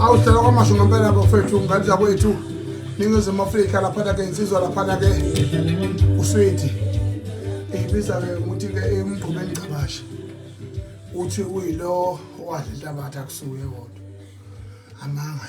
awuhlala kwamasho ngempela bafethu ngane zakwethu ningizimu afrika laphana ke insizwa laphana ke uswedi ibiza ke ukuthi ke emgqumeni ngcabashe uthi uyilo wadla inhlabathi akusuye kodwa amanga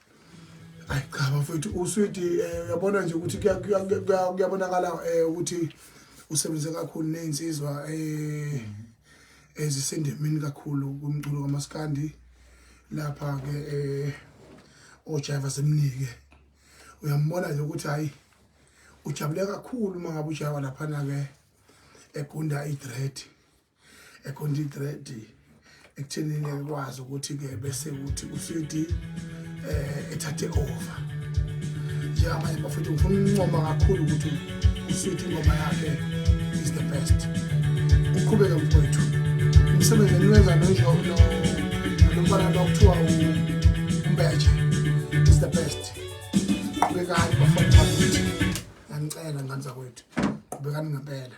Ayi cha bafethu uswidi eh, uyabona nje ukuthi kuya- kuya- kuya- kuyabonakala eh, ukuthi usebenze kakhulu ney'nsizwa eh, ezisendemeni kakhulu kumculo kamaskandi lapha-ke eh, ojaiva semnike uyambona nje ukuthi hhayi ujabule kakhulu uma ngabe ujaiva laphana-ke egunda idred econtent ready ekuthenini ekwazi ukuthi-ke bese ukuthi ucd um eh, ethathe over njengamanje bafethu ngifuna ukuncoma kakhulu ukuthi ucd ingoma yakhe is the best uqhubeke mfowethu umsebenzi eniwenza nomfana lo kuthiwa umbeje is the best qhubekani bafana bakithi ngiyanicela ngane zakwethu qhubekani ngempela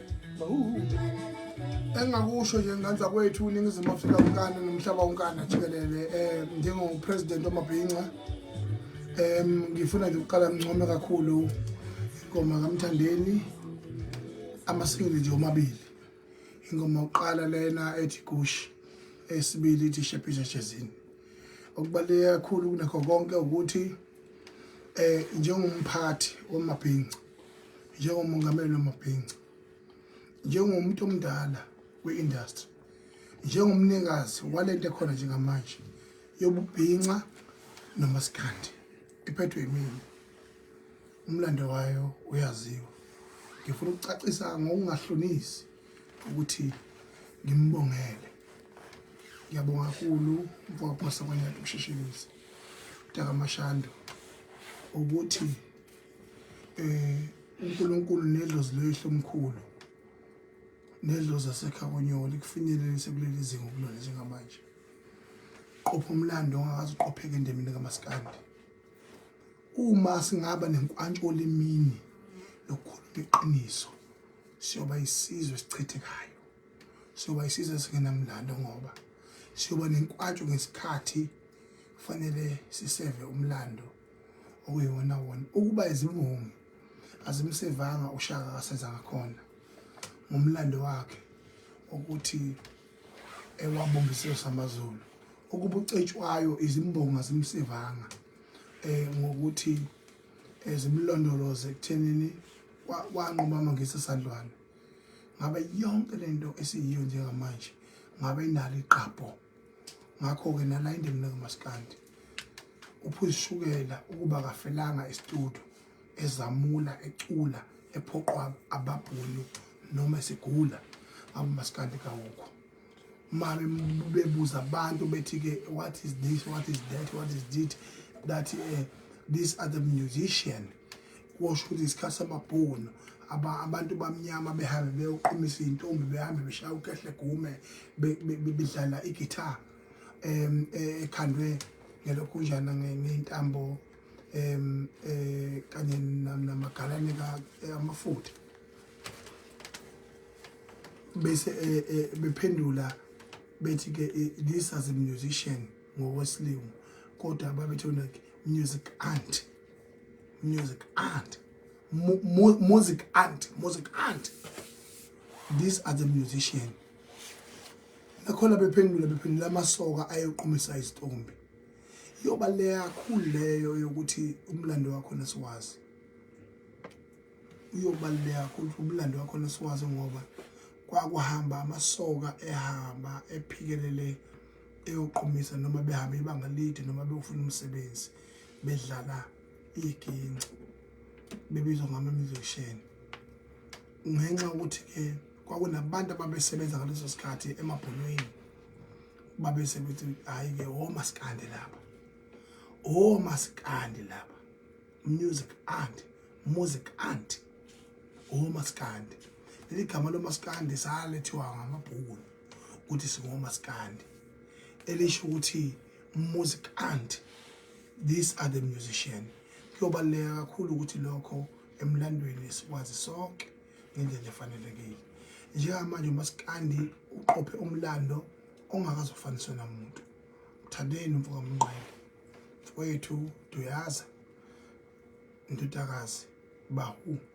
engingakusho nje nganza kwethu uningizimu afrika unkana nomhlaba unkana jikelele um eh, njengopresident wamabhinca um ngifuna nje ukuqala ngincome kakhulu ingoma kamthandeni amasingili nje omabili ingoma yokuqala lena ethi gush esibili ithi shephisha shezini okubaluleke kakhulu kunakho konke ukuthi um njengomphathi wamabhinca njengomongameli wamabhinca njengomuntu omdala kwi-industry njengomnikazi walento ekhona njengamanje yobubhinca nomasikandi iphethwe yimina umlando wayo uyaziwa ngifuna ukucacisa ngokungahlonisi ukuthi ngimbongele ngiyabonga kakhulu mfokaphasa kwanyati ukushishibisa mntakamashando ukuthi eh uNkulunkulu nedlozi lwehlo omkhulu nedlozi asekhakonyoli kufinyelelise kuleli zinga ukulona njengamanje qopha umlando ongakaze uqopheke endemini kamaskandi uma singaba nenkwantsho olimini lokukhuluma iqiniso siyoba isizwe sichithekayo siyoba isizwe singenamlando ngoba siyoba nenkwantsho ngesikhathi kufanele siseve umlando okuyiwona wona ukuba izimbongi azimsevanga ushaka akasenza ngakhona ngomlando wakhe ukuthi ewabonga isizwe samazulu ukuba ucetshwayo izimbongi azimsevanga eh ngokuthi eh, zimlondoloze ekuthenini wanquma amangisa sandlwane ngabe yonke lento esiyiyo njengamanje ngabe inalo iqapho ngakho-ke nala indemne kaMaskandi uphuzishukela ukuba kafelanga isitudu ezamula ecula ephoqwa ababhulu noma esigula abumaskandi kawukho uma bebuza abantu bethi-ke what is this what is that what is this that uh, these are the musician kusho ukuthi isikhathi samabhunu abantu bamnyama behambe beyoqhumisa iy'ntombi behambe beshaya ukehle gume bedlala igitha um e, ekhandwe ngelokhunjana ngentambo um kanye namagalane e, amafutha bese e, bephendula bethi-ke this as a musician ngokwesilungu kodwa babethe music aunt music aunt mu, mu, music aunt music aunt these are the musician nakhona bephendula bephendula amasoka ayoqumisa isitombi yoba leyakhulu leyo yokuthi umlando wakho nesiwazi uyobaluleka kakhulu umlando wakho nesiwazi ngoba kwakuhamba amasoka ehamba ephikelele eyoqomisa noma behamba ibanga lide noma bewufuna umsebenzi bedlala iginci bebizwa ngama-musician ngenxa yokuthi-ke kwakunabantu ababesebenza ngaleso sikhathi emabholweni babese bethi hhayi-ke womasikandi laba womasikandi laba music ant music ant womasikandi leli gama lomasikandi salethiwa ngamabhukuni ukuthi singomasikandi elisho ukuthi music aunt these are the musician kuyobaluleka kakhulu ukuthi lokho emlandweni sikwazi sonke ngendlela efanelekile njengamanje umasikandi uqophe umlando ongakazofaniswa namuntu mthandeni mfoka mnqele mfowethu duyaza ndodakazi bahu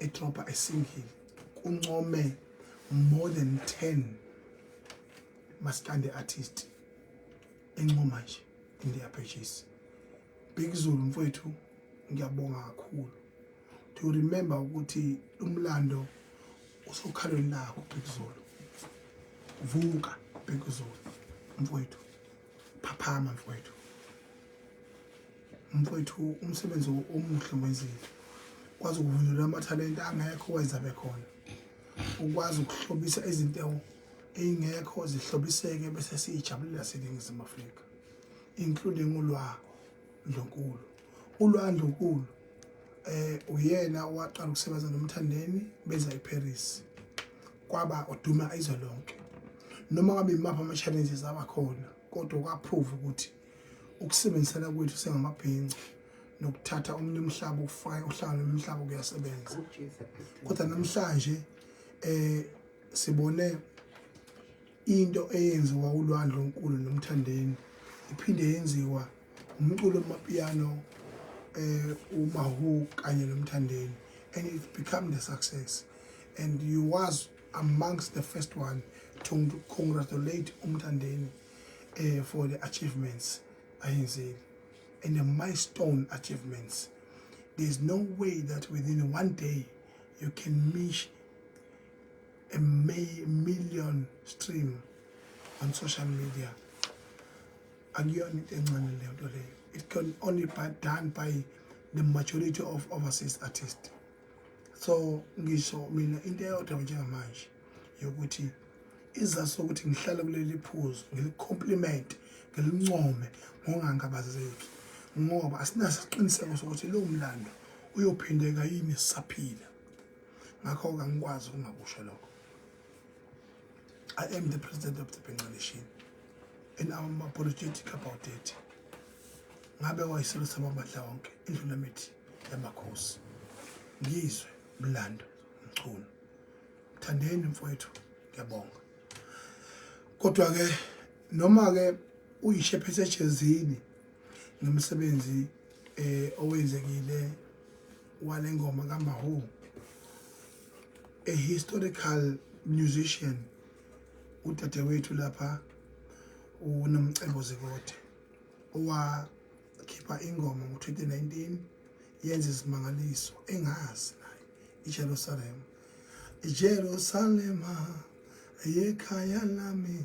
idrobha esingili kuncome more than 10 maskande artist encoma nje in their pages Big Zulu mfowethu ngiyabonga kakhulu to remember ukuthi umlando usokhalweni lakho Big Zulu vuka Big Zulu mfowethu phaphama mfowethu mfowethu umsebenzi omuhle wenzile kwazi ukuvunyelwa amathalente angekho wenza bekhona ukwazi ukuhlobisa izintengo ey'ngekho zihlobiseke bese siyijabulela seningizimu afrika including ulwa ndlunkulu ULwandle uNkulu eh uyena owaqala ukusebenza noMthandeni beza eParis kwaba oduma izwe lonke noma ngabe imaphi ama-challenges abakhona kodwa kwaprove ukuthi ukusebenzisana kwethu sengamabhinca nokuthatha omunye umhlaba ufake uhlanga lomhlaba kuyasebenza kodwa namhlanje eh sibone Into eyenziwa uLwandle Nkulu noMthandeni iphinde yenziwa umculo wamapiano eh uMahu kanye noMthandeni and it become the success and you was amongst the first one to congratulate uMthandeni eh for the achievements ayenzile and the milestone achievements there's no way that within one day you can meet a million stream on social media akuyona into encane leyo nto leyo it can only be done by the majority of overseas artists so ngisho mina into eyodwa njengamanje yokuthi izazi sokuthi ngihlale kuleli phuzu ngilicomplement ngilincome ngongangabazeki ngoba asinasiqiniseko sokuthi lowo mlando uyophindeka yini sisaphila ngakho-ke angikwazi ukungakusho lokho I am the president of the Bengal nation and I'm apologetic about it. Ngabe wayiselo samabandla wonke indlula mithi yamakhosi. Ngizwe mlando mchunu. Thandeni mfowethu ngiyabonga. Kodwa ke noma ke uyishe phethe ejezini ngemisebenzi eh owenzekile wale ngoma kaMahu a historical musician udadewethu lapha uNomcebo Zikode owakhipha ingoma ngo-2019 yenza izimangaliso engazi naye iJerusalema iJerusalema yekhaya lami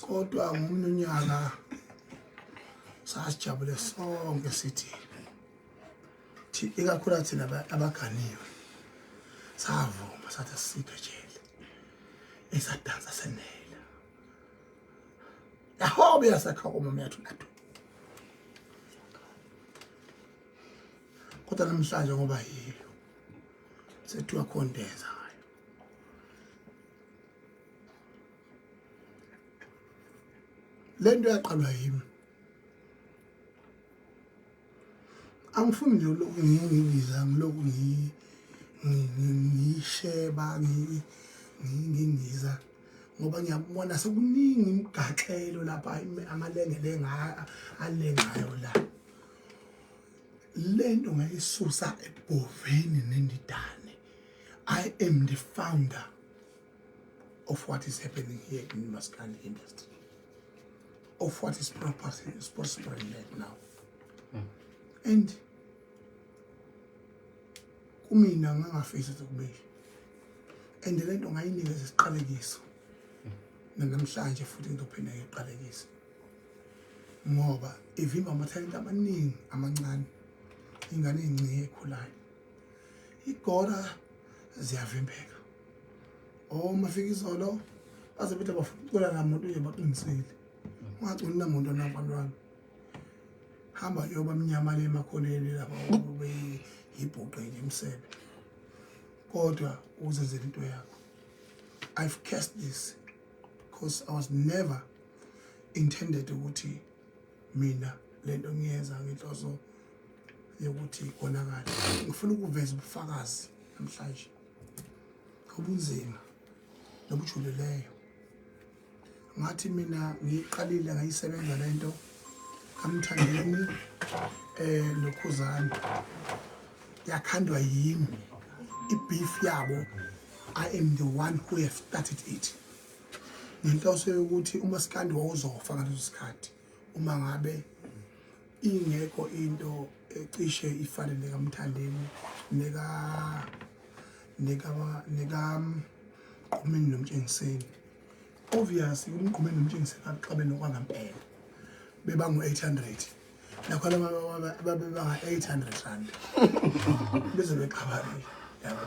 kodwa ngomunye unyaka sasijabule sonke sithi ikakhula thina abaganiwe savuma sathi asiphe jele esadansa senela yahobe yasakha umama yathu nathu kodwa namhlanje ngoba yilo sethiwa khondeza le nto yaqalwa yimi angifuni nje lokhu ngiyibiza ngilokhu ngiyisheba ngingiza ngoba ngiyakubona sekuningi imigaxelo lapha amalengelenga alengayo la le nto ngayisusa ebhoveni nendidane i am the founder of what is happening here in Maskandi industry, of what is prospering right now. Mm. And kumina ngangafisa ukube and le nto ngayinikeza isiqalekiso hmm. nanamhlanje futhi ngizophinda ngiqalekise ngoba ivimba amathalente amaningi amancane ingane encike ekhulayo igora ziyavimbeka oh mafika izolo baze bethe bafuna la muntu nje baqinisile ungagcini la muntu nabalwana hamba yoba mnyama le makholeni lapha ube yibhuqe nje umsebe kodwa uzenzela into yakho i've cast this because i was never intended ukuthi mina lento ngiyenza ngenhloso yokuthi konakala ngifuna ukuveza ubufakazi namhlanje obunzima nobujulileyo ngathi mina ngiyiqalile ngayisebenza le nto kamthandeni eh nokhuzani yakhandwa yimi ibeef yabo i am the one who have started it ngenhloso yokuthi umasikandi wawuzofa ngaleso sikhathi uma ngabe ingekho into ecishe ifane nekamthandeni neka neka neka mqhumeni nomtshengiseni obviously umqhumeni nomtshengiseni akaxabe nokwangampela beba ngu-800 nakho laba babebanga-800 rand beze bexabanile yabo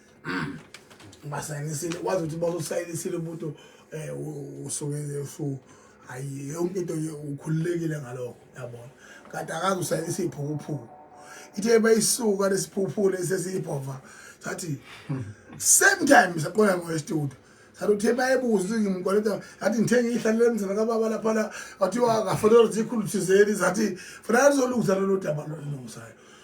basayinisile wazi ukuthi bazosayinisile umuntu um usuke usu hayi yonke into nje ukhululekile ngalokho yabona kade akazi usayinisa iy'phukuphuku ithe bayisuka lesiphuphule sesiyibhova sathi same time saqola ngowestudio sathi uthe bayebuza ukuthi ngimkoleta athi ngithenge ihlalele emzana kababa lapha la wathiwa akafanele zikhulu thizeni zathi fanele lizolungisa lolo daba lolungisayo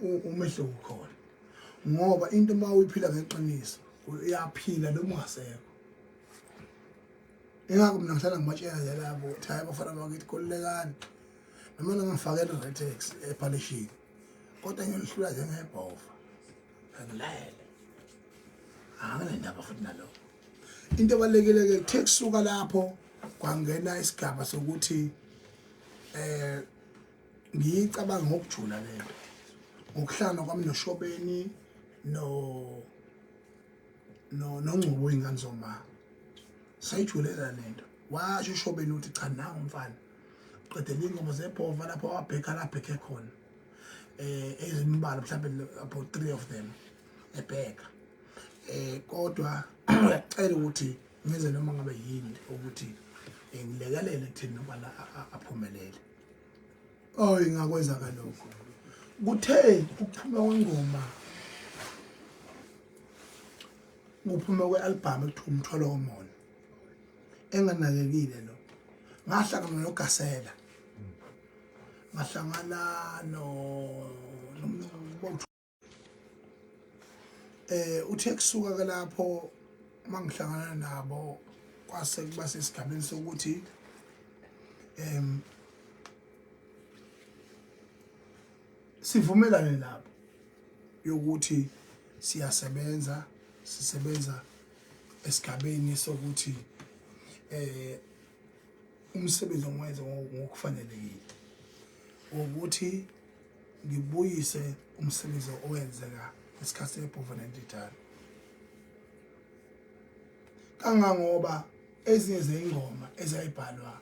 umehluko ukhona ngoba into uma uyiphila ngeqiniso uyaphila noma ungasekho ingakho mina ngihlala ngibatshela nje labo ukuthi hayi bafana bakithi khululekani noma nangifake i-retex ephalishini kodwa ngiyolihlula njengebhova angilele anginendaba futhi naloko into ebalulekile-ke kuthe kusuka lapho kwangena isigaba sokuthi um ngiyicabanga ngokujula le nto ngokuhlangana kwami noshobeni no no nongcubo ingane zoma sayijulela le nto washo ushobeni ukuthi cha nangu mfana qedela iy'ngoma zebhova lapho wabhekha labhekhe khona um ezimbala mhlawumbe about three of them ebheka um kodwa uyacela ukuthi ngenze noma ngabe yini ukuthi eh, ngilekelele kutheni nobana aphumelele oh ingakwenza ngalokho kuthe ukuphuma kwengoma kuphuma kwe-albhamu ekuthiwa umthwalo womona enganakekile lo ngahlangana nogasela ngahlangana no eh uthe kusuka ke lapho mangihlangana nabo kwase kuba sesigabeni sokuthi em sivumelane lapho yokuthi siyasebenza sisebenza esigabeni sokuthi eh umsebenzi ongiwenze ngokufanelekile ukuthi ngibuyise umsebenzi owenzeka ngesikhathi ebhova nendidane kangangoba ezinye zeyingoma ezayibhalwa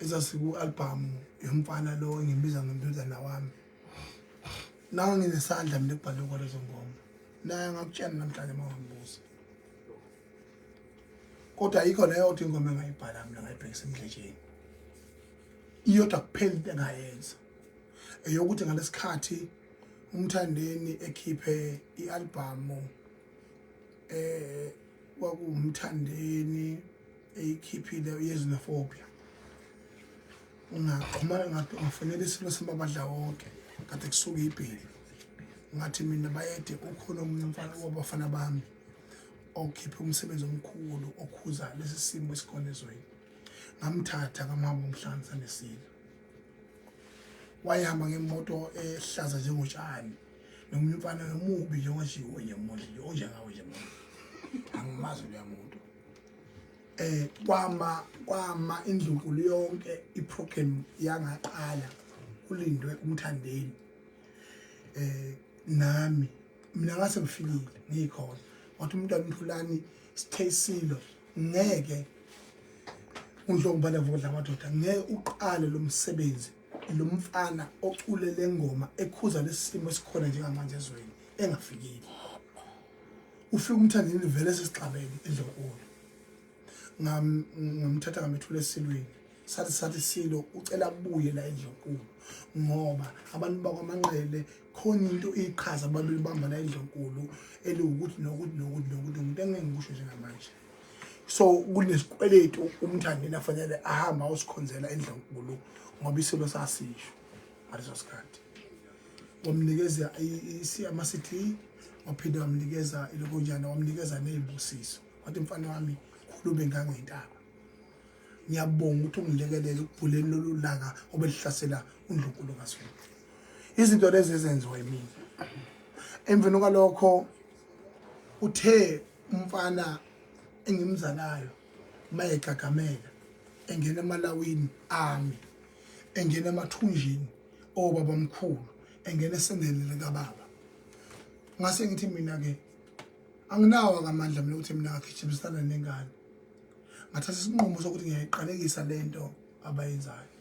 ezasiku-albhamu yomfana lo engimbiza ngomntuzana wami nawo nginesandla mina ekubhalwe kwalezo ngoma naye angakutshela namhlanje uma ungambuza kodwa yikho leyo othi ingoma engayibhala mina ngayibhekisa emdletsheni iyodwa kuphela into engayenza eyokuthi ngalesikhathi umthandeni ekhiphe ialbhamu eh kwakumthandeni eyikhiphile yezinophobia ungaxhumana ngathi ungafanele isilo sembabadla wonke kade kusuke ibheli ngathi mina bayede ukhona omunye umfana wabafana bami okhiphe umsebenzi omkhulu okhuza lesi simo esikhona ezweni ngamthatha ngamhamba umhlanza nesilo wayihamba ngemoto ehlaza njengotshani nomunye umfana nomubi njengojiwe nje mudli nje onjengawe nje mudli angimazi loya muntu eh kwama kwama indlunkulu yonke iprogram yangaqala kulindwe umthandeni eh nami mina ngase ngifikile ngikhona wathi umntwana umthulani eh, Sitheyisilo ngeke uNhlongubane Vukudla Madoda ngeke uqale lo msebenzi lo mfana ocule le ngoma ekhuza lesimo esikhona njengamanje ezweni engafikile ufika umthandeni vele sesixabene endlonkulu ngamthatha ngamethula esilweni sathi sathi silo ucela abuye la endlonkulu ngoba abantu bakwamanqele khona into iqhaza babelibamba la endlonkulu eliwukuthi nokuthi nokuthi nokuthi umuntu engeke ngikusho njengamanje so kunesikweletu umthandeni afanele ahamba usikhonzela endlonkulu ngoba isilo sasisho ngaleso sikhathi wamnikeza isiyama sithi waphinde wamnikeza ilokonjana wamnikeza ney'busiso wathi mfana wami khulube ngangentaba ngiyabonga ukuthi ungilekelele ukubhuleni lolu laka obelihlasela undlunkulu kaZulu izinto lezi ezenziwa yimina emveni kwalokho uthe umfana engimzalayo mayegagamela engena emalawini ami engena emathunjini obaba omkhulu engena esendeni likababa ngase ngithi mina ke Anginawo akamandla mina ukuthi mina ngagijimsana nengane. Ngathatha isinqumo sokuthi ngiyayiqalekisa lento abayenzayo.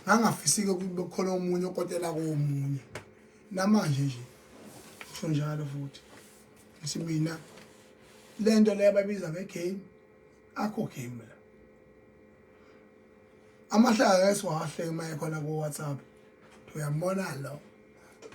Ngangafisike ukuthi bekukhona omunye okotela komunye. Namanje nje kusho njalo futhi. Ngithi mina lento le ababiza ngegame akho game la. Amahlaya esiwahle maye khona ku WhatsApp. Uyambona lo.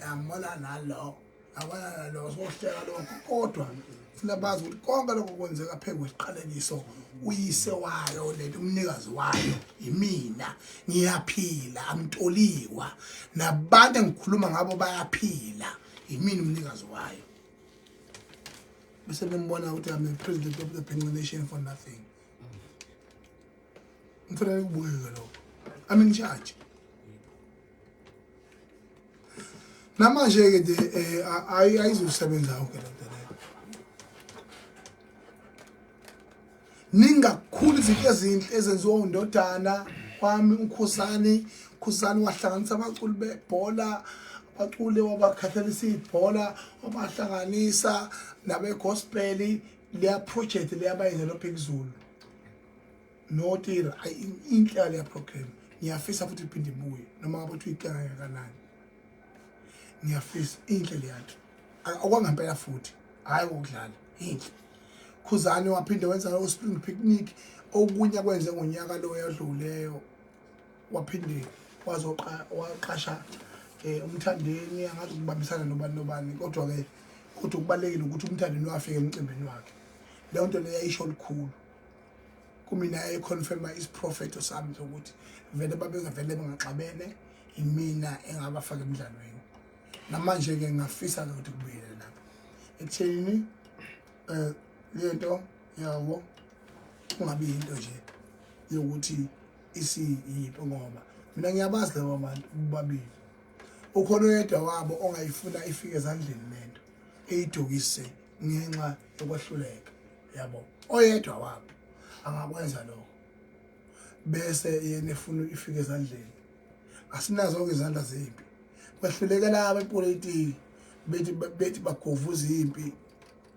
yambona nalo abana nalo sohleka lokho kodwa funa bazi ukuthi konke lokho kwenzeka phezu kwesiqalekiso uyise wayo lento umnikazi wayo yimina ngiyaphila amtoliwa nabantu engikhuluma ngabo bayaphila yimina umnikazi wayo bese nimbona ukuthi i'm the president of the penguin nation for nothing ngifuna ukubukeke lokho i'm in charge Namanje-ke nje um ayizusebenza yonke le nto leyo. Ningi kakhulu izinto ezinhle ezenziwa undodana wami uNkhosani. UNkhosani wahlanganisa abaculi bebhola, abaculi wabakhathalisa ibhola, wabahlanganisa nabegospeli. Leya project leyabayenzela oPhikizulu. No tira inhla le program ngiyafisa futhi iphinde ibuye noma ngabe uthi uyicela kangakanani. Ngiyafisa inhle le yakhe. Akwangempela futhi hayi ukudlala inhle. Khuzani waphinde wenza u spring picnic okunye kwenze ngonyaka lo yadluleyo waphinde wazoqa waqasha eh umthandeni angathi ukubambisana nobani nobani kodwa ke kodwa kubalekile ukuthi umthandeni wafika emcimbini wakhe leyo nto leyo ayisho likhulu kumina econfirma isiprofeto sami sokuthi vele babengavele bengaxabene imina engabafaka emdlalweni namanje-ke ngingafisa ke ukuthi kubuyele lapho ekuthenini um le nto yawo kungabi yinto nje yokuthi isiyiphi ngoba mina ngiyabazi laba bantu bobabili ukhona oyedwa wabo ongayifuna ifike ezandleni le nto eyidukise ngenxa yokwehluleka yabo oyedwa wabo angakwenza lokho bese yena efuna ifike ezandleni asinazo-ke izandla zempi kwehlulekela abepolitiki bethi bethi bagovuza impi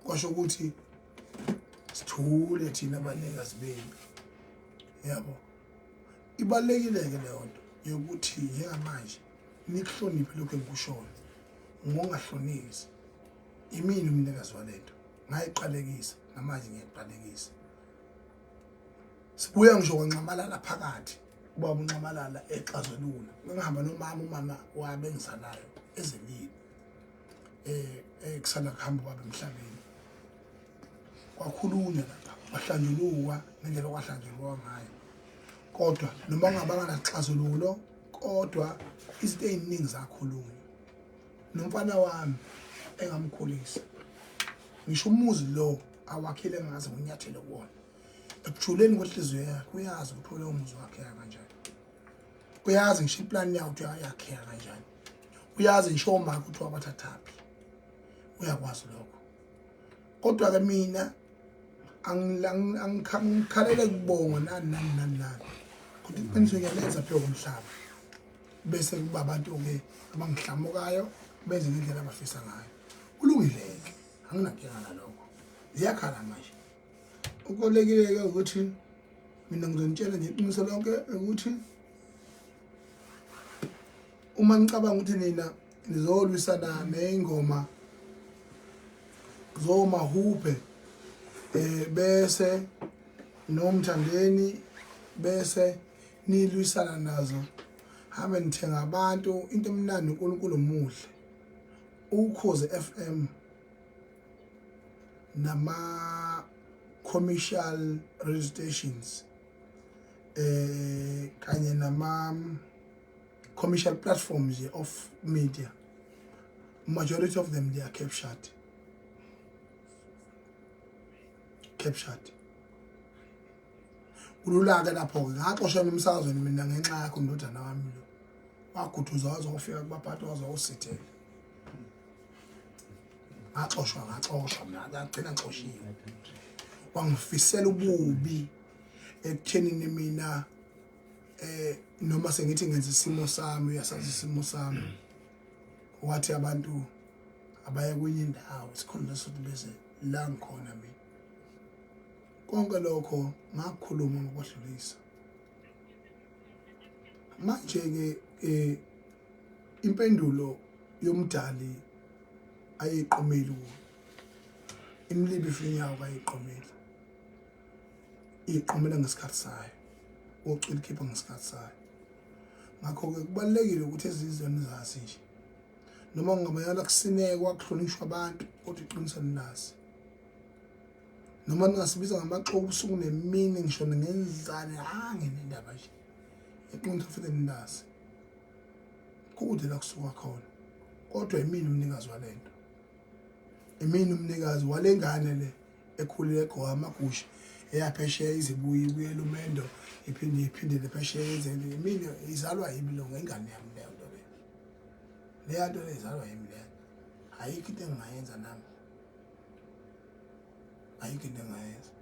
kwasho ukuthi sithule thina abanikazi bempi yabo ibalulekile-ke leyo nto yokuthi njengamanje nikuhloniphe lokhu engikushoyo ngongahlonisi imini umnikazi walento ngayiqalekisa namanje ngiyayiqalekisa sibuya ngisho kwanxamalala phakathi ubaba unxamalala exazulula ngihamba nomama umama wabe engizalayo ezemini eh, eh kusanda kuhamba ubaba emhlabeni kwakhulunywa lapha kwahlanjulukwa ngendlela kwahlanjulukwa ngayo kodwa noma ngabanga naxazululo kodwa izinto eziningi zakhulunywa nomfana wami engamkhulisa ngisho umuzi lo awakhile ngaze ngonyathele kuwona ekujuleni kwenhliziyo yakhe uyazi ukuthi ulowo muzi wakheka kanjani uyazi ngisho iplani yawo ukuthi uyayakheka kanjani uyazi ngisho omaka ukuthi wakwathathaphi uyakwazi lokho kodwa-ke mina angikhalele kubonga nani nani nani nani kodwa iqiniso ngiyalenza phezu komhlaba bese kuba abantu-ke abangihlamukayo benze ngendlela abafisa ngayo kulungile-ke anginankinga nalokho ziyakhala manje ukubalulekile-ke ukuthi mina ngizonitshela nje iqiniso lonke ukuthi uma nicabanga ukuthi nina nizolwisana ney'ngoma zomahubhe um bese nomthandeni bese nilwisana nazo hambe nithenga abantu into emnandi uNkulunkulu omuhle ukhoze FM nama commercial radio stations eh kanye nama commercial platforms of media majority of them they are captured captured kulula-ke lapho-ke ngaxosha emsakazweni mina ngenxa yakho ndodana wami lo waguduzwa waze wafika kubaphathi waze wawusithela ngaxoshwa ngaxoshwa mina ngagcina ngixoshiwe wangifisela ububi ekuthenini mina eh noma sengithi ngenza isimo sami uyasazi isimo sami wathi abantu abaye kwenye indawo sikhona sothi bese la ngikhona mina Konke lokho ngakukhuluma ngokwedlulisa. Manje-ke um impendulo yomdali ayiqomeli kuyo imlibi ifinyawo kayiqomeli iqomela ngesikhathi sayo ucula ikhipha ngesikhathi sayo ngakho-ke kubalulekile ukuthi ezizweni zazi nje noma kungabayala kusinekwa kuhlonishwa abantu kodwa iqiniso nilazi noma ningasibiza ngamaxoki ubusuku nemini ngisho ningenzani hange nendaba nje iqiniso futhi ninazi kude la kusuka khona kodwa imini umnikazi wale nto imini umnikazi wale ngane le ekhulile egqoka amagusha eyaphesheya izibuye ibuye lumendo iphinde iphindele phesheya yenzeni imini izalwa yimi lo ngengane yami leyo nto leyo leya nto lezalwa yimi leyo ayikho into engingayenza nami ayikho into engayenza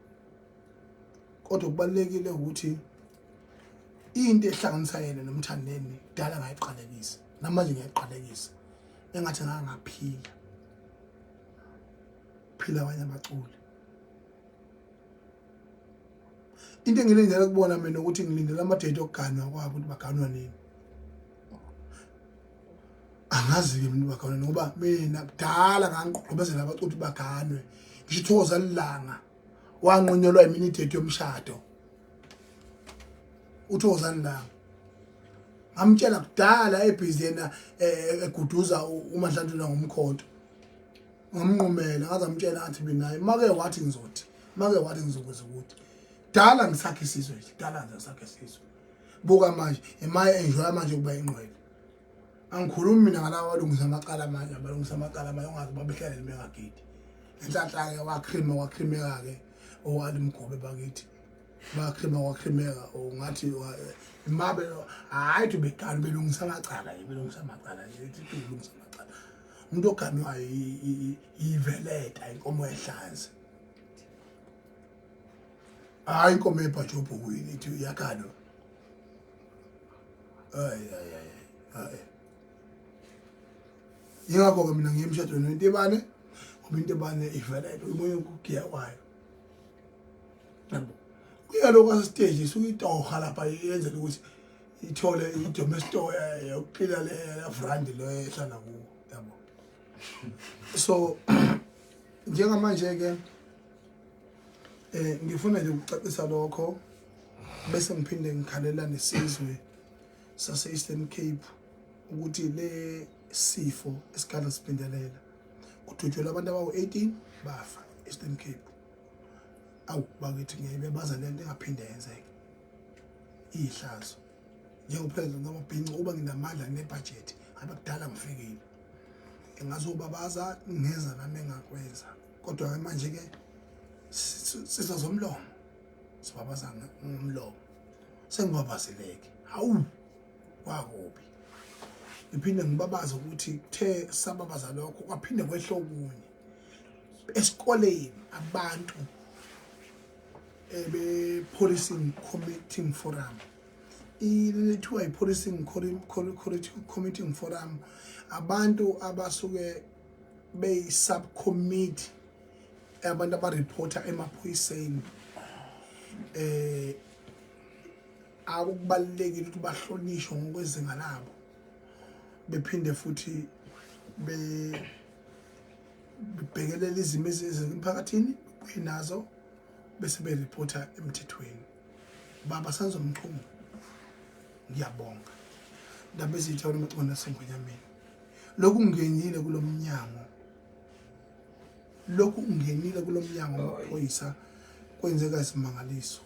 kodwa kubalekile ukuthi into ehlanganisa yena nomthandeni dala ngayiqalekisa namanje ngiyayiqalekisa engathi ngangaphila phila abanye abaculi into engilindele kubona mina ukuthi ngilindele amadate okuganwa kwabo ukuthi baganwa nini angazi-ke mina baganwe ngoba mina kudala ngangigqobezela abaculi baganwe ngisho ithokoza lilanga wanqunyelwa iminidate yomshado uthokoza lilanga ngamtshela kudala ebhizi yena eh, eguduza umadlanduna ngomkhonto ngamnqumela ngaze amtshela athi mina make wathi ngizothi make wathi ngizokwenza ukuthi dala ngisakhe isizwe dala ngisakhe isizwe buka manje emaye enjoya manje ukuba ingqwele angikhulumi mina ngalawa walungisa amacala manje abalungisa amacala manje ungazi babehlalele bengagidi enhlanhla-ke wakrima wakhrimeka-ke owalimgobe bakithi bakrima wakhrimeka ngathi mabe hhayi thi begala belungisa amacala belungisa amacala belungisa amacala umuntu oganwayo yiveleta inkomo ehlanzi hayi inkomo ebhaje obhukwini ithi uyakhalwa hayi hayi hayi yingakho-ke mina ngiye emshadweni wentebane ngoba intebane ivelele umoya ukugiya kwayo yabo kuya lokho asesiteji suke itoha lapha yenzela ukuthi ithole idome store eh, yokuqila le vrandi lo ehlala kuwo yabo so njengamanje-ke Eh ngifuna nje ukucacisa lokho bese ngiphinde ngikhalela nesizwe sase Eastern Cape ukuthi le sifo esikhala siphindelela kudutshulwa abantu abawu-18 bafa Eastern Cape awu bakithi ngeke baza lento engaphinde yenzeke ihlazo njengopresident wamabhinci uba nginamandla nginebhajethi ngabe kudala ngifikile engazobabaza ngeza nami engakwenza kodwa ke manje ke sizo zomlomo sibabaza ngomlomo sengibabazeleke hawu kwakubi ngiphinde ngibabaza ukuthi kuthe sababaza lokho kwaphinde kwehla okunye esikoleni abantu ebe-policing committing forum ilithiwa i-policing committing forum abantu abasuke beyi-subcommittee abantu abareporter emaphoyiseni eh akukubalulekile ukuthi bahlonishwe ngokwezinga labo bephinde futhi be bebhekelela izimo ezisemphakathini kuye nazo bese bereporter emthethweni baba senzo mchungu ngiyabonga ndaba ezithe wena mcona sengonyameni lokhu ngenile kulo mnyango lokhu ngenile kulo mnyango wamaphoyisa kwenzeka isimangaliso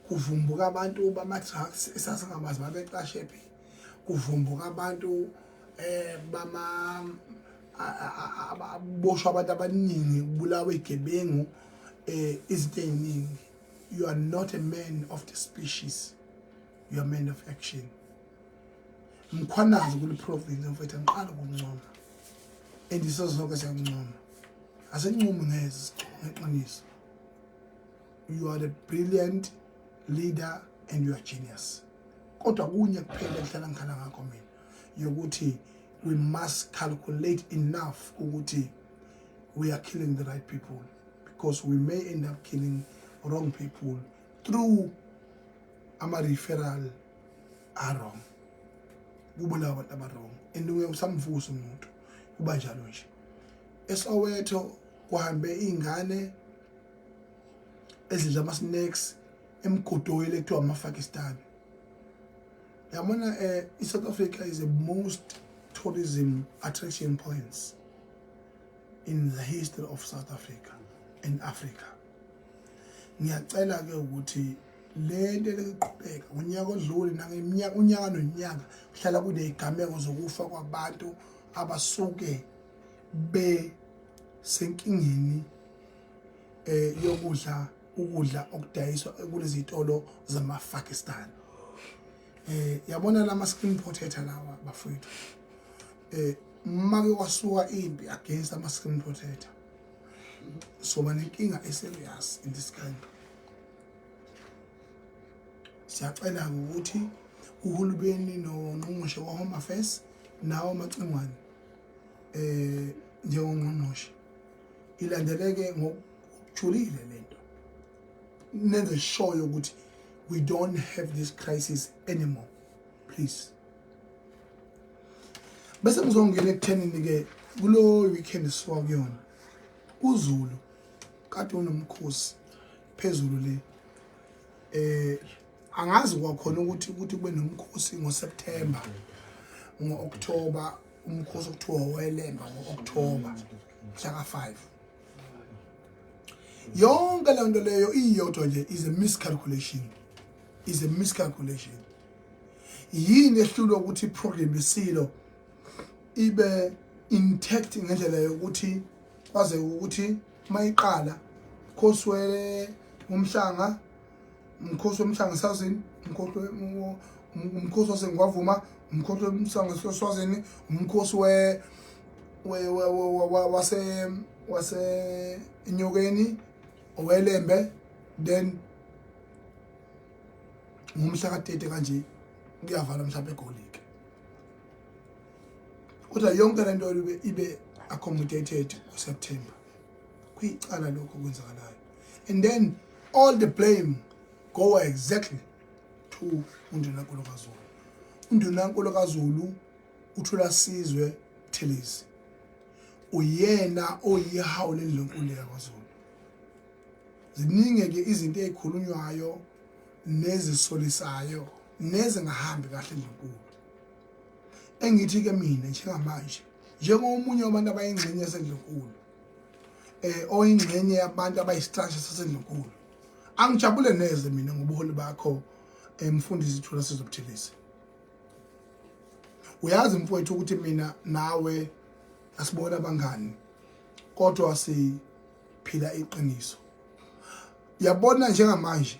kuvumbuka abantu bama-drugs esasingabazi babecashe phi kuvumbuka abantu um eh, bama aboshwa abantu abaningi kubulawa igebengu um izinto ey'ningi you are not a man of the species you are man of action ngikhwanazi kule province mfethu angiqali ukuncoma and isozonke siyakuncoma asincomi ngeze ngeqiniso you are a brilliant leader and you are genius kodwa kunye kuphela ngihlala ngikhala ngakho mina yokuthi we must calculate enough ukuthi we are killing the right people because we may end up killing wrong people through ama-referral arong kubulawa abantu abarong and uye usamvusa umuntu kuba njalo nje esowetho kuhambe iy'ngane ezidla ama-snacks emgodoyile kuthiwa amafakistani yabona um eh, i-south africa is the most tourism attraction points in the history of south africa and africa ngiyacela-ke ukuthi le nto eliqhubeka ngonyaka odlule nangeminyaka unyaka nonyaka kuhlala kunezigameko zokufa kwabantu abasuke besenkingeni eh yokudla ukudla okudayiswa kulezi zitolo zamaPakistan eh yabona lama screen protector lawa bafowethu eh make wasuka impi against ama screen protector so banenkinga eserious in this country siyacela ukuthi uhulumeni nongqongqoshe wa-home affairs nawo amacingwane eh njengongqongqoshe ilandeleke ngokujulile lento nenze sure ukuthi we don't have this crisis anymore please bese ngizongena ekuthenini ke kulo weekend siwa kuyona uzulu kade unomkhosi phezulu le eh angazi kwakhona ukuthi ukuthi kube nomkhosi ngoSeptember ngo-October umkhosi okuthiwa owelemba ngo-October mhlaka 5 yonke le nto leyo iyodwa nje is a miscalculation is a miscalculation yini ehlulwa ukuthi iprogram isilo ibe intact ngendlela yokuthi kwaze ukuthi mayiqala mkhosi we umhlanga umkhosi womhlanga sazini umkhosi umkhosi wasengwavuma umkhosi womhlanga sazini umkhosi we we wase wase inyokeni owelembe then ngomhla ka-30 kanje kuyavala mhlawumbe egolini kodwa yonke lento ibe ibe accommodated uSeptember kuyicala lokho kwenzakalayo and then all the blame go exactly to undunankulu kaZulu undunankulu kaZulu uthula sizwe Thelezi uyena oyihawu lendlunkulu yakwaZulu ziningi ke izinto ezikhulunywayo nezisolisayo nezingahambi kahle endlunkulu engithi ke mina njengamanje njengomunye wabantu abayingxenye yasendlunkulu eh oyingxenye yabantu abayisitasha sasendlunkulu angijabule neze mina ngobuholi bakho emfundisi eh, Thula Sizobuthelisa uyazi mfowethu ukuthi mina nawe asibona abangani kodwa siphila iqiniso yabona njengamanje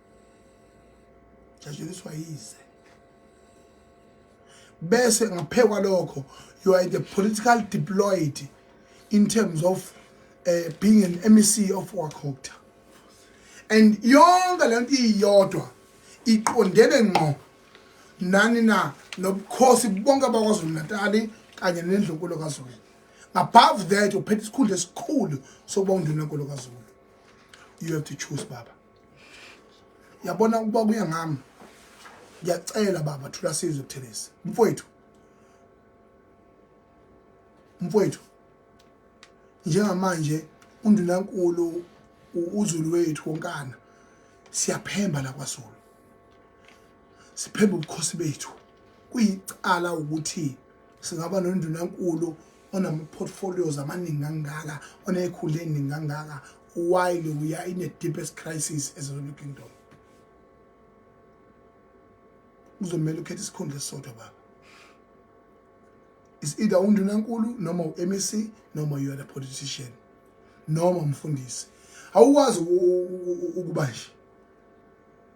jatshuliswa yize bese ngaphekwa lokho you are the political deployed in terms of uh, being an MEC of Wakokta and yonke lento iyodwa iqondene ngqo nani na nobukhosi bonke bakwaZulu Natal kanye nendlunkulu kaZulu above that uphethe isikhundla esikhulu sokuba undunankulu kaZulu you have to choose baba yabona ukuba kuye ngami ngiyacela baba thula sizwe kuthelezi mfowethu mfowethu njengamanje undunankulu uzulu wethu wonkana siyaphemba la kwasolo siphemba ubukhosi bethu kuyicala ukuthi singaba nondunankulu onama-portfolios amaningi kangaka onekhulu eningi kangaka why we are in a deepest crisis as a kingdom uzomela ukhetha isikhundla esisodwa baba is either undunankulu noma u-mec noma you are a politician noma umfundisi awukwazi ukuba nje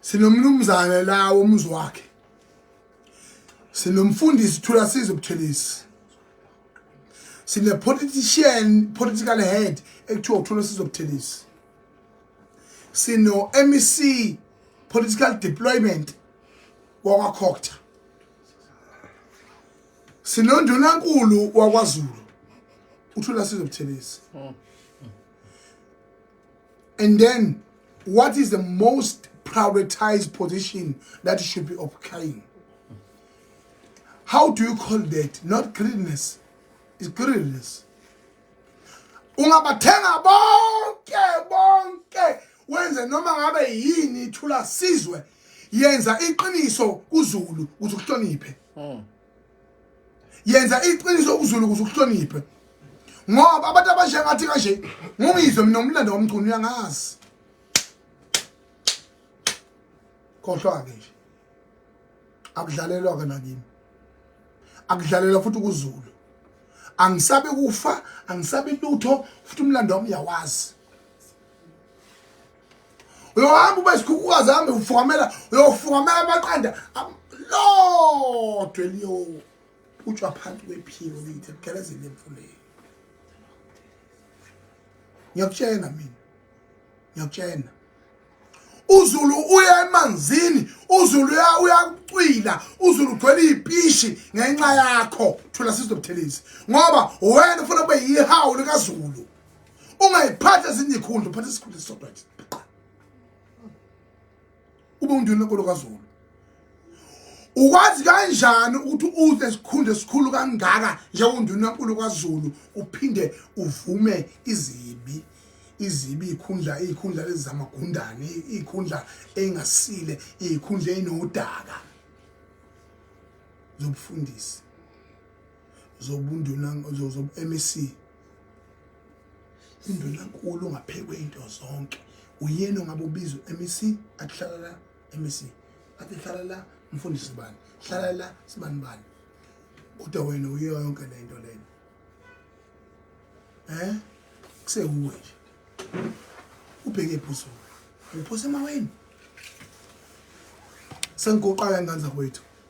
sinomnumzane la womuzi wakhe sinomfundisi thula size ubuthelisi sine politician political head ekuthiwa uthula size ubuthelisi sino MEC political deployment wakwa Khokta sinonduna nkulu wakwaZulu uthula size ubuthelisi hmm. And then what is the most prioritized position that you should be occupying? How do you call that? Not greediness. It's greediness. Ungabathenga bonke bonke wenze noma ngabe yini ithula sizwe yenza iqiniso kuzulu ukuthi uhloniphe. Hmm. yenza iqiniso ukuzulu ukuze ukuhloniphe ngoba abantu abasha ngathi kanje ngungizwe mina umlando womculo uyangazi khohlwa-ke nje akudlalelwa-ke nakimi akudlalelwa futhi ukuzulu angisabe kufa angisabe lutho futhi umlando wami uyawazi uyohamba ube sikhukhukazi hambe ufukamela uyofukamela amaqanda lodwa eliyophutshwa phansi kwephiko lithi ebugelezeni emfuleni ngiyakutshena mina ngiyakutshena uzulu uya emanzini uzulu uya uyakucwila uzulu ugcwele izipishi ngenxa yakho thula sizobuthelezi ngoba wena ufuna kube yihawu likazulu ungayiphatha ezinye ikhundla uphatha isikhundla esisodwa nje ube undini lenkolo kazulu ukwazi kanjani ukuthi uze esikhundla esikhulu kangaka njengonduna nkulu kwazulu uphinde uvume izibi izibi ikhundla ikhundla lezamagundane ikhundla engasile ikhundla enodaka zobufundisi zobunduna zobu-MEC Indunankulu ungaphekwe into zonke uyena ongabe ubizwe MEC akuhlala la MEC athi hlala la mfundisi bani hlala la sibani bani kodwa wena uyiyo yonke le nto lena eh kusewuwe nje ubheke iphuzo uphose emaweni sengigoqaka ingane zakwethu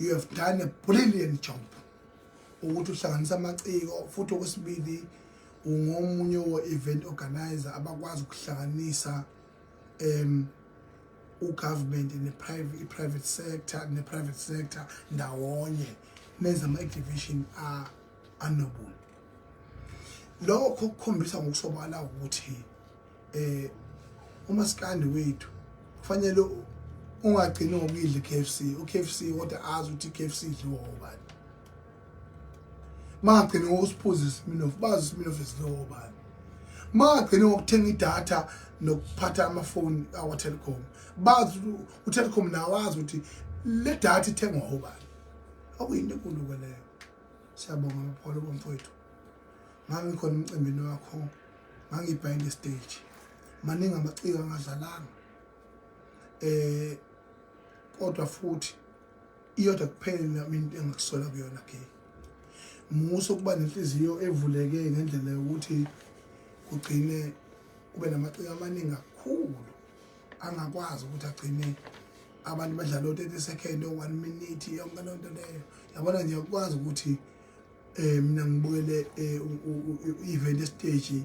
you have done a brilliant job ukuthi uhlanganisa amaciko futhi okwesibili ungomunye wo-event organizer abakwazi ukuhlanganisa um ugovernment ne-private i-private sector ne-private sector ndawonye nenza ama-exhibition anobuntu lokho kukhombisa ngokusobala ukuthi eh umaskandi wethu kufanele ungagcini ngokuyidla KFC uKFC kodwa azi ukuthi KFC idliwa obani mangagcini ngokusiphuza isminof bazi isminof esidliwa obani mangagcini ngokuthenga idatha nokuphatha amafoni awa Telkom bazi uTelkom nawo azi ukuthi le data ithengwa obani akuyinto enkulu kweleyo siyabonga mpholo bomfowethu ngangikhona emcimbini wakho ngangibhayinde estage maningi amaciko angadlalanga eh kodwa futhi iyodwa kuphele nami into engikusola kuyona ke muso kuba nenhliziyo evuleke ngendlela yokuthi kugcine kube namaciko amaningi kakhulu angakwazi ukuthi agcine abantu badlala o-30 second o-1 minute yonke loo nto leyo yabona nje ukwazi ukuthi eh mina ngibukele eh, event stage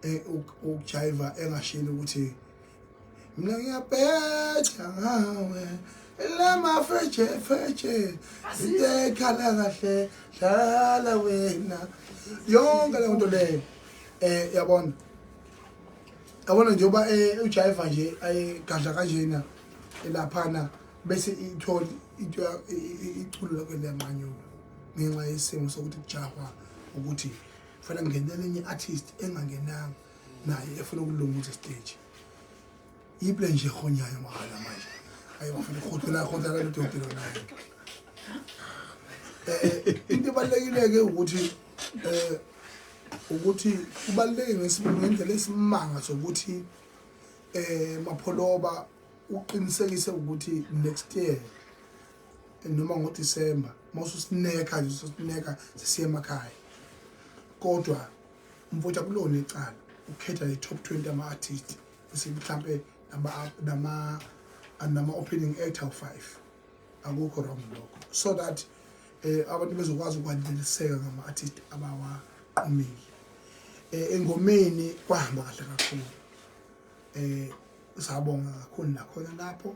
eh, ukujaiva engashini ukuthi mina ngiyabhetha ngawe lama feje feje into ekhala kahle dlala wena yonke leyo nto leyo eh yabona yabona njengoba eh, ujaiva nje ayigadla kanjena elaphana bese ithola into iculo lakhe liyanqanyuka ngenxa yesimo sokuthi kujahwa ukuthi kufanele kungenele enye artist engangenanga naye efuna ukulunguza stage yiple nje ehonyayo mahala manje ayi bafuna ukhothola khothola lodokotela naye eh into ebalekile ke ukuthi eh ukuthi kubaleke ngesibili ngendlela esimanga sokuthi eh mapholoba uqinisekise ukuthi next year noma ngodisemba mawususineka nje ususineka sisiye emakhaya kodwa umfowethu akulona icala ukhetha i-top 20 ama-artist bese mhlampe nama-opening act awu-five akukho wrong lokho so that um abantu bezokwazi ukwaneliseka ngama-artist abawaqomile um engomeni kwahamba kahle kakhulu um sabonga kakhulu nakhona lapho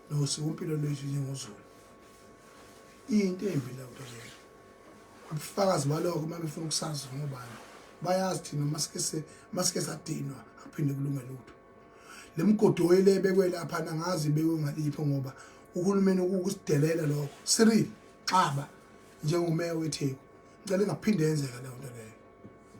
nosikompilo lwethu njengozulu into embi la nto leyo ubufakazi balokho uma befuna ukusazi ngobani bayazi thina masikese masike sadinwa akuphinde kulunge lutho le migodi oyile ebekwe lapha nangazi ibekwe ngalipho ngoba uhulumeni ukusidelela lokho siril xaba njengomeya wetheku ngicela ingaphinde yenzeka leyo nto leyo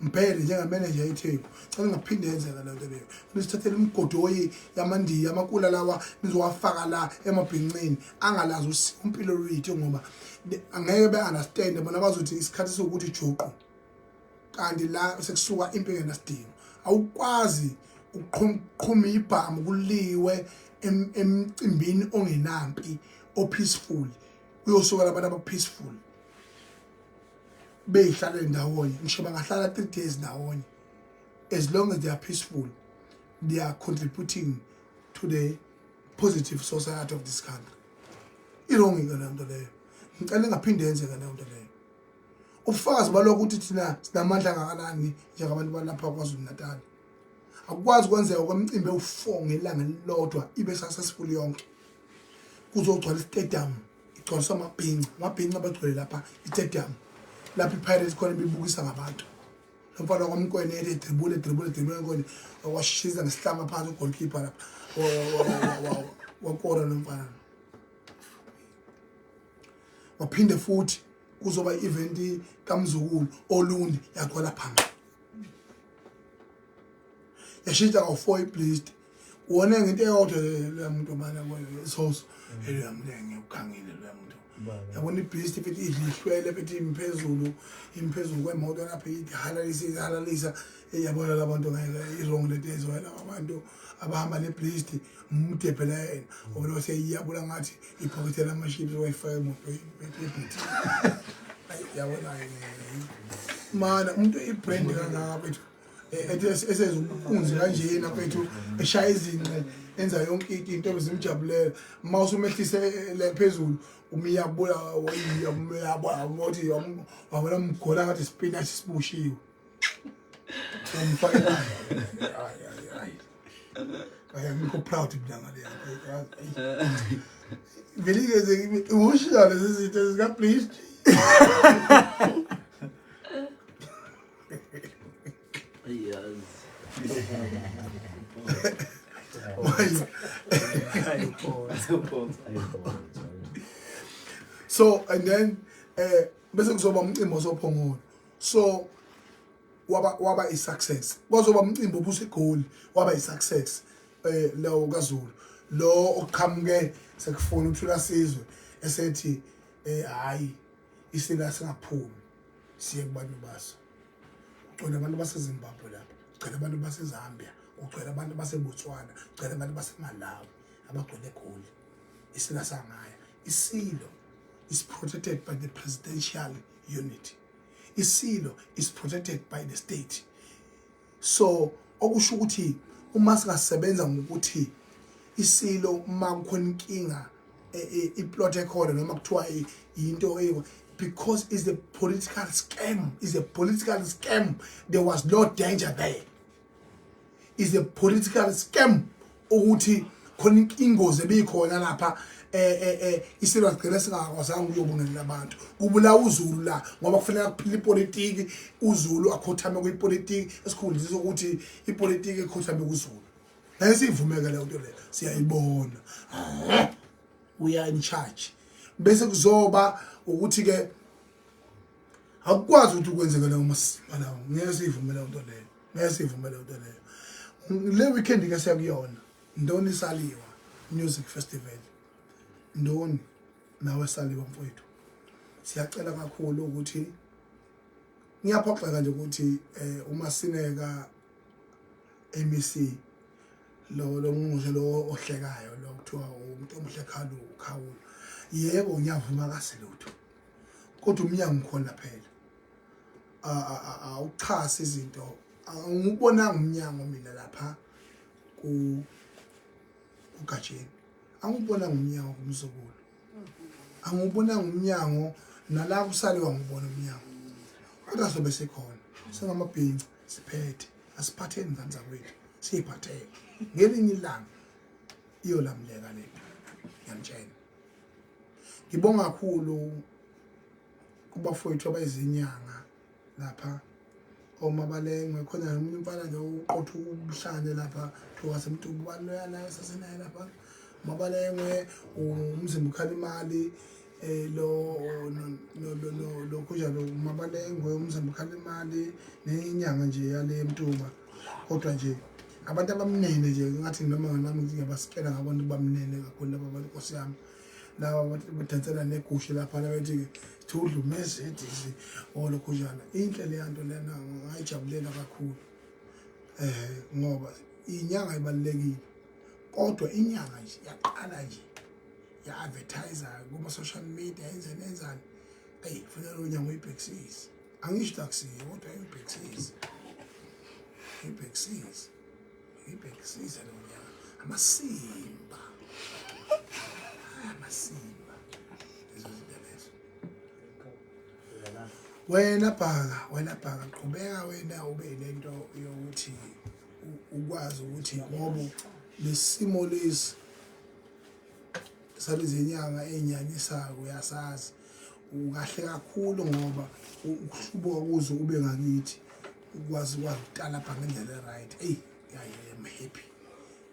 Mbhele njengameneja yetheku cela ngaphinde yenzeka le nto leyo nisithathele imigodoyi yamandiya amakula lawa nizowafaka la emabhincini angalazi usiko impilo luyitho ngoba angeke be-understande bona bazothi isikhathi sokuthi juqu kanti la sekusuka impi engenasidingo awukwazi ukuqhuma ibhamu kuliwe emcimbini ongenampi o-peaceful kuyosukela abantu aba-peaceful beyihlalele ndawonye ngisho bangahlala three days ndawonye as long as they are peaceful they are contributing to the positive society of this country irongi ke lento leyo ngicela ingaphinde yenzeka leyo nto leyo ubufakazi balokho ukuthi thina sinamandla angakanani njengabantu balapha kwazulu natal akukwazi kwenzeka kwemcimbi ewufour ngelanga elilodwa ibe successful yonke kuzogcwala istadium igcwaliswa amabhinca amabhinca abagcwele lapha itedium lapho ipirates khona ibibukisa ngabantu lo mfana wakwamkwene ele dribule dribule dribule nkone washisa ngesihlama phansi ugolkipa lapha wakora lo mfana waphinde futhi kuzoba i-event kamzukulu olundi yakhwela phambili yashintsha kawu-four iblist wona ngento eyodwa leya muntu obana kwayo isoso mm. eloya muntu engiyawukhangile loya muntu yabona ibhisti futhi idlihlwele futhi imphezulu imphezulu kwemoto lapho ihalalisa ihalalisa eyabona la bantu ngeke i-wrong lento ezoya laba bantu abahamba nebhisti mudebhela yena mm. obona seyiyabula ngathi iphokethe lamashipi wayifaka emoto ebhithi yabona-ke mana umuntu ibrand kangaka bethu eh, ethi esenza umpunzi kanjena mfethu eshaya izinqe enza yonke into into zimjabulela uma usumehlise eh, le phezulu umiyabula uyabula ngothi wabona mgona ngathi spinach sibushiwe umfake naye ay ay ay kaya ngikho proud mntana le yakhe vele ngeze emotional lezi zinto zika please so and then eh bese kuzoba umcimbi ozophongona so waba waba i success kwazoba umcimbi obusa igoli waba i success eh lawo kaZulu lo oqhamuke sekufuna uthula sizwe esethi eh hayi isina singaphumi siye kubantu baso ugcwele abantu basezimbabwe lapha ugcwele abantu basezambia ugcwele abantu basebotswana ugcwele abantu basemalawi abagcwele egoli isila sangaya isilo is protected by the presidential unit isilo is protected by the state so okusho ukuthi uma singasebenza ngokuthi isilo uma kukhona inkinga e, e, iplot ekhona noma kuthiwa yinto eyo because is a political scam is a political scam there was no danger there is a political scam ukuthi khona ingozi ebikhona lapha eh eh eh isilo sigcina singakwazanga ukuyobunelela abantu kubulawa uZulu la ngoba kufanele kuphila ipolitiki uZulu akhothame kuyipolitiki esikhundlisa ukuthi ipolitiki ekhothame kuZulu nayisivumeke leyo nto leyo siyayibona we are in charge bese kuzoba ukuthi ke akukwazi ukuthi kwenzeke leyo masima lawo ngeke siyivumele into leyo ngiyasivuma leyo nto leyo le weekend ke siyakuyona ndoni saliwa music festival ndoni nawe saliwa mfowethu siyacela kakhulu ukuthi ngiyaphoxeka nje ukuthi eh, uma sineka MEC lo lo ngqungqushe lo ohlekayo lo kuthiwa umuntu omuhle khalu khawula yebo ngiyavuma kasilutho kodwa umnyango ukhona phela awuxhasi izinto angibonanga umnyango mina lapha ku ugatsheni angibonanga umnyango kumzukulu angibonanga umnyango nala kusale wangibona umnyango kodwa sobe sikhona singamabhinci siphethe asiphatheni ngane zakwethu siyiphathele ngelinye ilanga iyolamleka lento ngiyamtshela ngibonga kakhulu kubafowethu abayizinyanga lapha oma balengwe khona nomunye umfana nje uqotha ubuhlane lapha thowasemtuku baloya naye sasenaye lapha uma balengwe umzimba ukhala imali eh lo lokho njalo uma balengwe umzimba ukhala imali nenyanga nje yale mtuba kodwa nje abantu abamnene nje ngathi noma nami ngiyabasikela ngabona ubamnene kakhulu laba bantu nkosi yami laba badansela negushe lapha labethi thudlumeze edisi olokhu njalo inhle leya nto lena ngayijabulela kakhulu eh ngoba inyanga ibalekile kodwa inyanga nje yaqala nje ya advertise kuma social media yenze nenzani ay kufanele lo nyanga uyibhekisise angisho taxi kodwa uyibhekisise uyibhekisise Ngibhekisise lo nyaka amasimba amasimba lezo zinto lezo wena bhaka wena bhaka qhubeka wena ube nento yokuthi u- ukwazi ukuthi ngoba lesimo lesi sabezinyanga enyanyisayo uyasazi ukahle kakhulu ngoba u- ukuhlubuka kuzo ube ngakithi ukwazi wakutalabha ngendlela e-right eyi am happy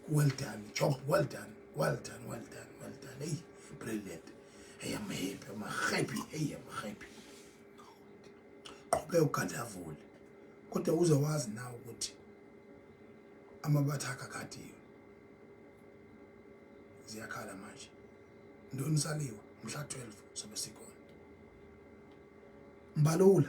well done job well done well done well done well done eyi brilliant eyi am happy am happy eyi am happy qhubeka ugadavule kodwa uze wazi na ukuthi amabatha akakadiwe ziyakhala manje ntoni saliwa mhla 12 sobe sikhona mbalula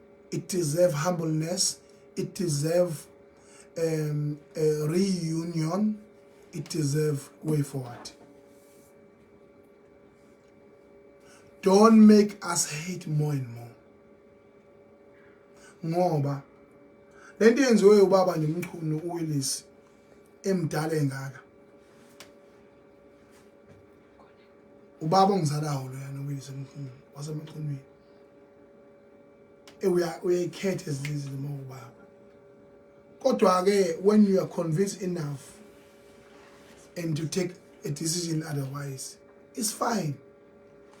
it deserve humbleness it deserve um, a reunion it deserve way forward don't make us hate more and more ngoba lento yenziwe ubaba nje umchunu uWillis emdala engaka ubaba ongizalayo loyana uyise mkhulu wasemachumini uyayikhetha ezinye izinto uma ubaba kodwa-ke when you are convinced enough and to take a decision otherwise it's fine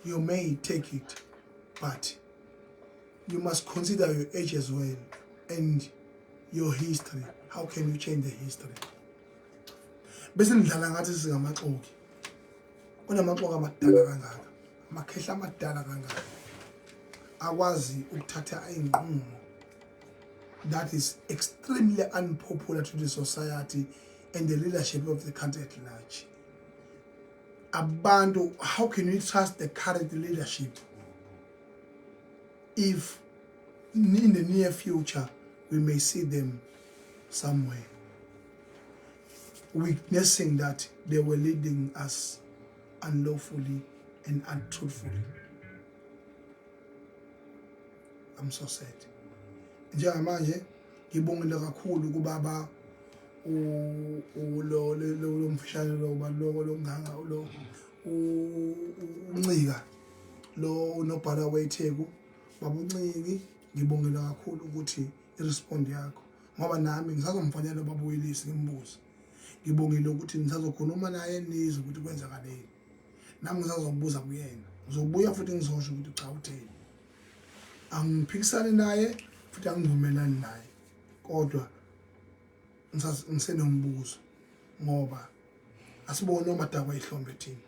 you may take it but you must consider your age as well and your history how can you change the history bese nidlala ngathi singamaxoki unamaqoka amadala kangaka amakhehla amadala kangaka akwazi ukuthatha inqumo that is extremely unpopular to the society and the leadership of the country at large abantu how can we trust the current leadership if in the near future we may see them somewhere witnessing that they were leading us unlawfully and untruthfully. I'm so sad. Njengamanje ngibongile kakhulu kubaba u lo lo mfishane lo baloko lo nganga lo uncika lo unobhala wetheku babuncingi ngibongela kakhulu ukuthi i-respond yakho ngoba nami ngisazomfonela ubabuyilisi ngimbuze ngibongile ukuthi ngisazokhuluma naye nizwe ukuthi kwenzakaleni nami ngisazobuza kuyena ngizobuya futhi ngizosho ukuthi cha utheni angiphikisani naye futhi angivumelani naye kodwa ngisenombuzo ngoba asibone omadakwa ihlombe thina